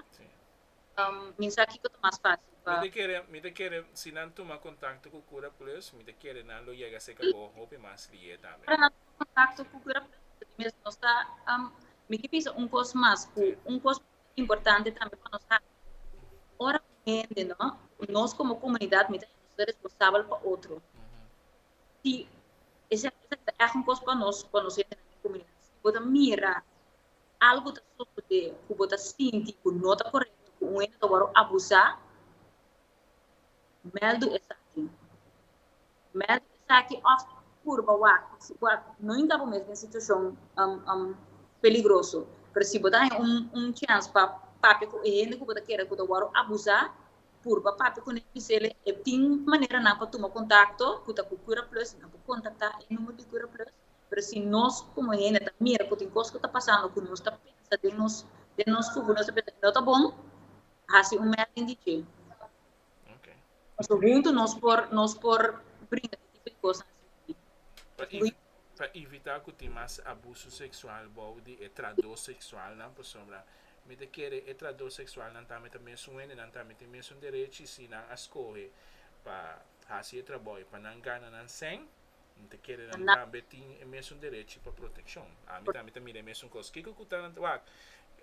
Minsaki ku ta mas fásil pa. Mi ta kere si nan tuma kontakto ku Kura Plus, mi ta kere nan lo yega serka bo hopi mas lié tambe. Ora nan tuma kontakto ku Kura Plus, mi ta di mes nos ta. Mi ke bisa un kos mas, ku un kos ku ta importante tambe pa nos hasi, ora un hende no, ku nos komo komunidat mi ta hende nos ta responsabel pa otro, si esaki ta ègt un kos pa nos, pa nos hendenan den komunidat, si bo ta mira. algu ta sosodé ku bo ta sinti ku no ta korekto ku un hende ta wòrdu abusá, mèldu esaki. Mèldu esaki òf purba wak si bo a no hinka bo mes den situashon peligroso. Pero si bo ta haña un un chèns pa papia ku e hende ku bo ta kere ku ta wòrdu abusá, purba papia kuné i bis'é e tin maneranan pa tuma kontakto ku ta ku Curaplus, nan por kontaktá e nùmero di Curaplus pero si nos como hende ta mira cu tin cos cu ta pasando cu nos ta pensa den nos den nos cubo nos ta pensa que no ta bon haci un mapping di dje pasobra hunto nos por nos por brinca di tipo di cosnan asina pa evi pa evita cu tin mas abuso sexual bao di e trador sexualnan pasobra mi ta kere e trador sexualnan tambe ta mesun hende nan tambe tin mesun derechi si nan a scoge pa haci e traboyo pa nan gana nan seng N ta kere nan tambe tin e mesun derechi pa protekshon. Ami tambe ta mira e mesun kos. Kiko ku ta nan? Wak,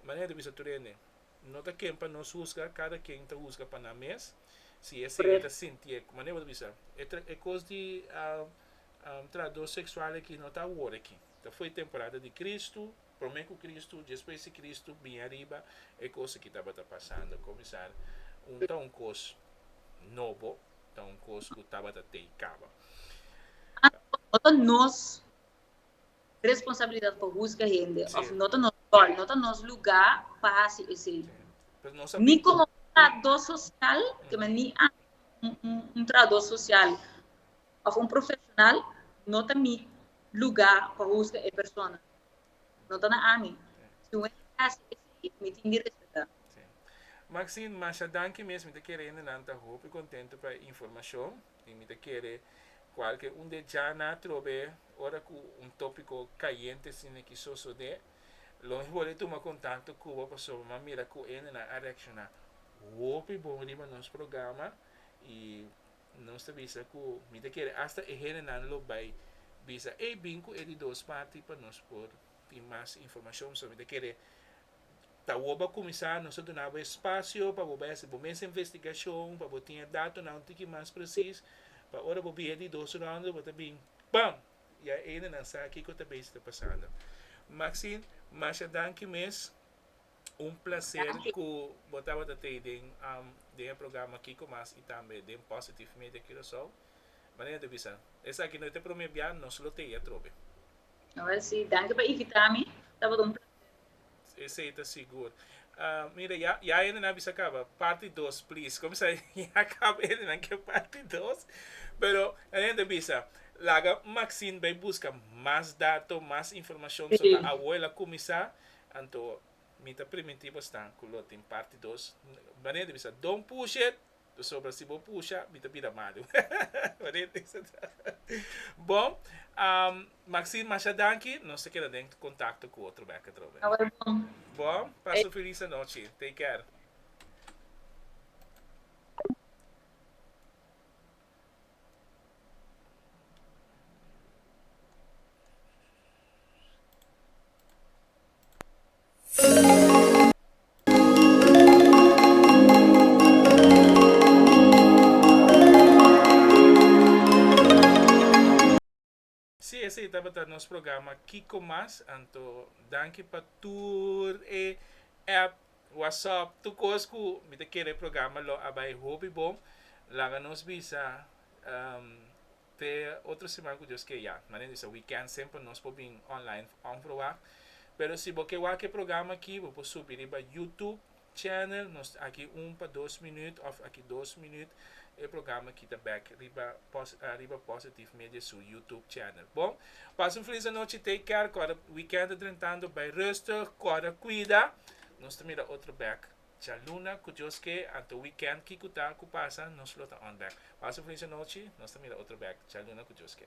manera di bisa tur hende, no ta ken pa nos husga, kada ken ta husga pa nan mes. Si e hende ta sinti e, manera bo ta bisa, e tra, e kos di trahador seksual aki no ta awor aki. Ta fo'i temporada di Kristu. Prome ku Kristu, despues di Kristu bini ariba, e kos aki tabata pasando komisar un ta un kos nobo, ta un kos ku tabata tei kaba. Anto, no ta nos responsabilidat pa husga hende, òf no ta nos ròl, no ta nos lugá pa hasi esei. Ni komo un trahadó sosial, ke men ni anto un trahadó sosial òf un profeshonal, no ta mi lugá pa husga e persona. No ta na ami. Si un hende ta hasi esei, mi tin di respetá. Maxine, masha danki mes. Mi ta kere hende nan ta hopi kontentu pa e informashon i mi ta kere kualke un di e djana atrobe ora ku un topiko kayente sin aki sosodé lo mi bole tuma kontakto ku bo pasobra mi a mira ku hende nan a reakshoná hopi bon riba nos programa i Nos ta bisa ku mi ta kere asta e hendenan lo bai bisa, Ey, bin ku e di dos parti pa nos por tin mas informashon. So mi ta kere ta wòrdu a kuminsá, nos ta duna bo e spasio pa bo bai hasi bo mes investigashon, pa bo tin e datonan un tiki mas presis, pa ora bo bin e di dos rònde bo ta bin, bam! Ya e hendenan sa kiko ta bes ta pasando. Maxine, masha danki mes. Un placer cu bo tabata tei den, um, den e programa Kiko Mas y tambe den Positive Media Curaçao. Manera de bisa, esaki no e te prome bia, nos lo tei atrobe. Awel si, danki pa invita mi, tabata un placer. Esey ta sigur. Uh, mira, ya, ya hende nan bisa caba. Party 2, please. Como sa, ya caba hende nan ke party 2. Pero, nan hende bisa, laga Maxine bay busca mas dato, mas informacion, so ta awoy la cumisa, Anto mi ta primintí bo stan ku lo tin parti dos, Maria ta bisa, Don't push it! Pasobra si bo pusha, mi ta bira malu. Maria ta bisa ta. Bon, Maxine, masha danki, nos ta keda den kontakto ku otro bek atrobe. Awor bon. Bon, pasa un felis anochi. Take care. Si esei tabata nos programa Kiko Mas, anto danki pa tur e app, whatsapp, tur kos ku mi ta kere e programa lo a bai hopi bon. Laga nos bisa. Te otro siman ku Dios ke ya. Manen disa weekend semper nos por bin online on for wak. Pero si bo ke wak e programa aki bo por subi riba YouTube channel nos aki un pa dos minuut of aki dos minuut e programa aki ta back riba riba Positive Media su YouTube channel. Bon pasa un feliz anochi take care kòrda weekend ta drentando bay rustig kòrda kuida nos ta mira otro back Djaluna cu djoske anto weekend kico ta cu pasa nos lo ta on back paso influencia nochi nos ta mira otro back djaluna cu djoske.